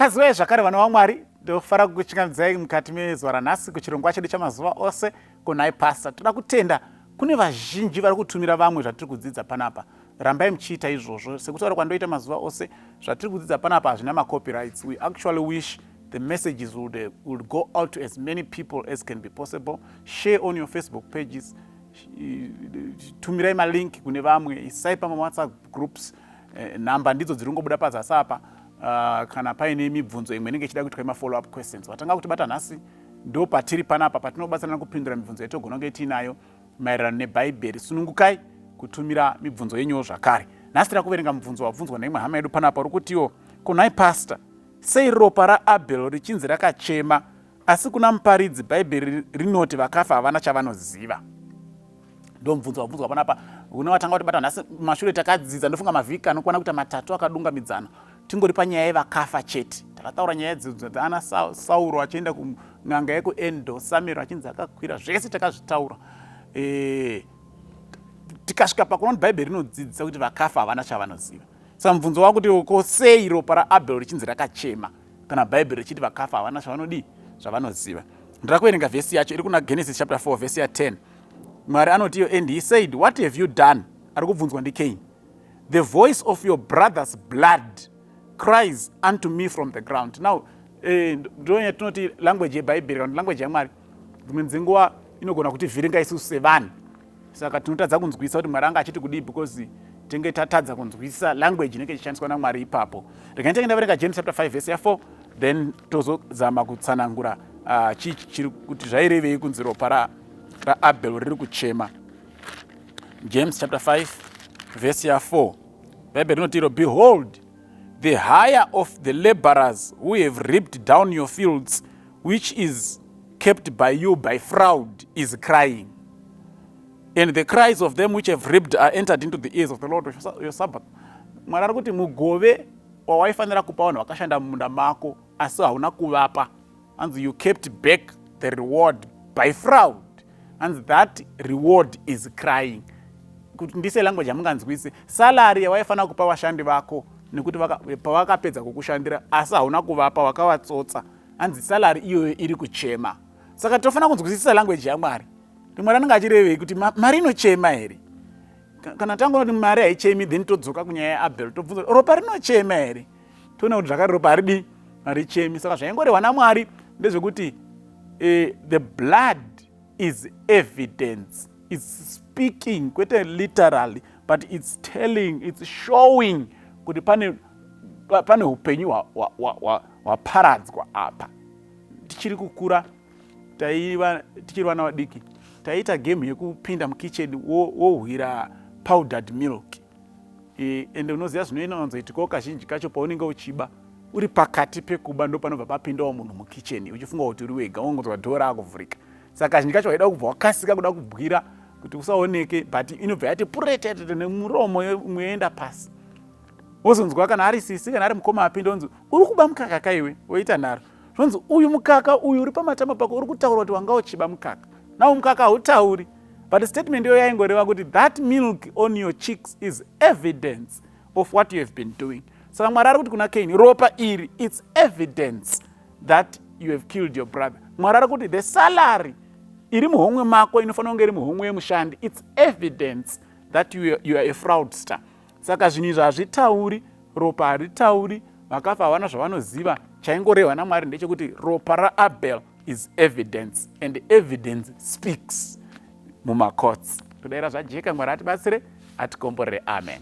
mukadzi waye zvakare vana vamwari ndofara kukuchingamidzai mukati mezuva ranhasi kuchirongwa chedu chamazuva ose kunhai pasta toda kutenda kune vazhinji vari kutumira vamwe zvatiri kudzidza panapa rambai muchiita izvozvo sekutaura kwandoita mazuva ose zvatiri kudzidza panapa hazvina macopyrights we actually wish The messages will, uh, will go out to as many people as can be possible. Share on your Facebook pages. Tumirai malink kune vamwe, isai pama WhatsApp groups. Eh, nhamba ndidzo dziri kungobuda pazasi apa. Uh, kana paine mibvunzo imwe inenge ichida kuitwa mafollow up questions vatanga kuti bata nhasi ndo patiri panapa patinobatsirana kupindura mibvunzo yatogona kunge tiinayo maererano nebhaibheri sunungukai kutumira mibvunzo yenyu zvakare nhasi tira kuverenga mubvunzo wabvunzwa neimwe hama yedu panapa uri kutiwo kunhai pastor Sei ropa raAbel richinzi rakachema asi kuna Muparidzi Bhaibheri rinoti vakafa havana chavanoziva? Ndomubvunzo wabvunzwa panapa une watanga kutibata nhasi mashure takadzidza ndofunga mavhiki anokwana kuita matatu akadungamidzana tingori panyaya yevakafa chete takataura nyaya dzidzo dzaana sauro achienda kun'anga yekuendo samiro achinzi akakwira zvese takazvitaura e, tikasvika pakuona kuti bhaibheri rinodzidzisa kuti vakafa havana chavanoziva Saka mubvunzo wakutiwo ko sei ropa raAbel richinzi rakachema kana Bhaibheri richiti vakafa havana zvavanodii zvavanoziva. Ndira kuverenga vhesi yacho iri kuna Genesis chapter 4 vhesi ya 10. Mwari anotiyo and he said what have you done ari kubvunzwa ndikeini the voice of your brother's blood cries unto me from the ground now eh, ndonya eh, tinoti language yebhaibheri kana language yamwari dzimwe dzenguva inogona kuti vhiringa isusu sevanhu saka tinotadza kunzwisa kuti mwari anga achiti kudii because tenge tatadza kunzwisa language inenge ichishandiswa namwari ipapo regai tenge ndaverenga james chapter 5 vese ya4 then tozozama kutsanangura uh, chii chiri kuti zvairevei kunzi ropa ra, raabel riri kuchema james chapter 5 vese ya4 bhaibheri rinoti iro behold the higher of the laborers who have ripped down your fields which is kept by you by fraud is crying and the cries of them which have ripped are entered into the ears of the lord of your sabbath mwari ari kuti mugove wawaifanira kupa vanhu vakashanda mumunda mako asi hauna kuvapa hanzi you kept back the reward by fraud hanzi that reward is crying kuti ndise language yamunganzwise salary yawaifanira kupa vashandi vako nekuti pavakapedza kukushandira asi hauna kuvapa wakavatsotsa hanzi salary iyoyo iri kuchema saka tinofanira kunzwisisa language yamwari kuti mwari anenge achirevei kuti mari inochema here kana tangoona kuti mari haichemi then todzoka kunyaya yaabel tobvunza kuti ropa rinochema here toona kuti zvakare ropa haridii harichemi saka zvaingorehwa namwari ndezvekuti eh, the blood is evidence its speaking kwete literally but its telling its showing kuti pane pane upenyu hwaparadzwa apa tichiri kukura taiva tichiri vana vadiki taiita game yekupinda mukitchen wohwira powdered milk ende unoziva zvinoinonzoitikawo kazhinji kacho paunenge uchiba uri pakati pekuba ndo panobva papindawo munhu mukitchen uchifunga kuti uri wega wongonzwa dhora akuvhurika saka kazhinji kacho waida kubva wakasika kuda kubwira kuti usaoneke but inobva yati puretetete nemuromo yoenda pasi wozonzwa kana ari sisi kana ari mukoma apinda onzi uri kuba mukaka kaiwe woita nharo zvonzi uyu mukaka uyu uri pamatama pako uri kutaura kuti wanga uchiba mukaka nawo mukaka hautauri but statement iyo yaingoreva kuti that milk on your cheeks is evidence of what you have been doing saka mwari ari kuti kuna kaini ropa iri its evidence that you have killed your brother mwari ari kuti the salary iri muhomwe mako inofanira kunge iri muhomwe yemushandi its evidence that you are, you are a fraudster Saka zvinhu izvi hazvitauri, ropa haritauri, vakafa havana zvavanoziva, chaingorehwa naMwari ndechekuti ropa raAbel is evidence and evidence speaks mumacourts. Todaira zvajeka, Mwari atibatsire, atikomborere. Amen.